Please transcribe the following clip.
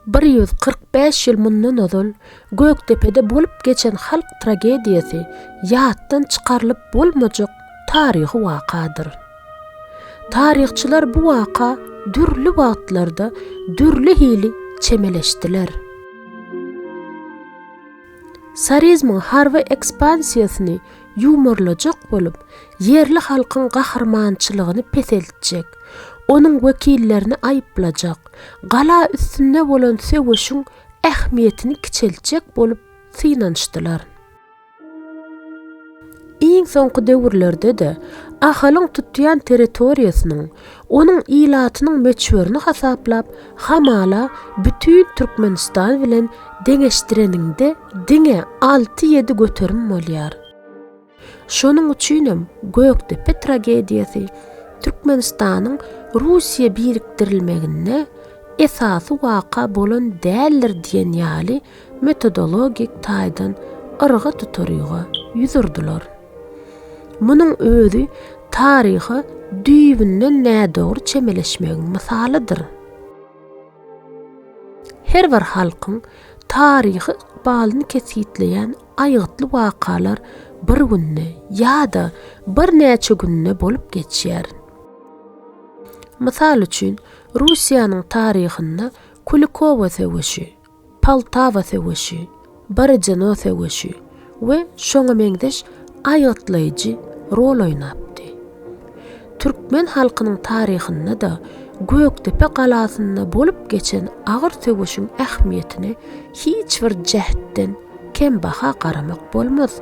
Bir ýüz kyrk bäş ýyl mundan ozal Gökdepede bolup geçen halk tragediýasy ýatdan çykarylyp bolmajak taryhy wakadyr. Taryhçylar bu waka dürli wagtlarda dürli hili çemeleşdiler. Sarizmiň harby ekspansiýasyny ýumurlajak bolup, ýerli halkyň gahrymançylygyny peseltjek, onuň wekillerini aýyplajak, gala üstünde bolan söweşiň ähmiýetini kiçeltjek bolup synanyşdylar. Iň soňky döwürlerde-de Ahalyň tutýan territoriýasynyň, onuň ilatynyň möçberini hasaplap, hamala bütin Türkmenistan bilen deňeşdireniňde, Diňe alty-ýedi göterim bolýar. Şonuň üçinem Gökdepe tragediýasy Türkmenistanyň Russiýa birikdirilmeginde esasy waka bolan däldir diýen ýaly metodologik taýdan yrga tuturyga ýüz urdular. Munuň özi taryha düýbünden nädogry çemeleşmegiň mysalydyr. Her bir halkyň taryhy ykbalyny kesgitleýän aýgytly wakalar bir günde ýa-da birnäçe günde bolup geçýär. Mysal üçin, Russiýanyň taryhynda Kulikowo söweşi, Poltawa söweşi, Borodino söweşi we şoňa meňzeş aýgytlaýjy rol oýnapdy. Türkmen halkynyň taryhynda-da Gökdepe galasynda bolup geçen agyr söweşiň ähmiýetine hiç bir jähtden kem baha garamak bolmaz.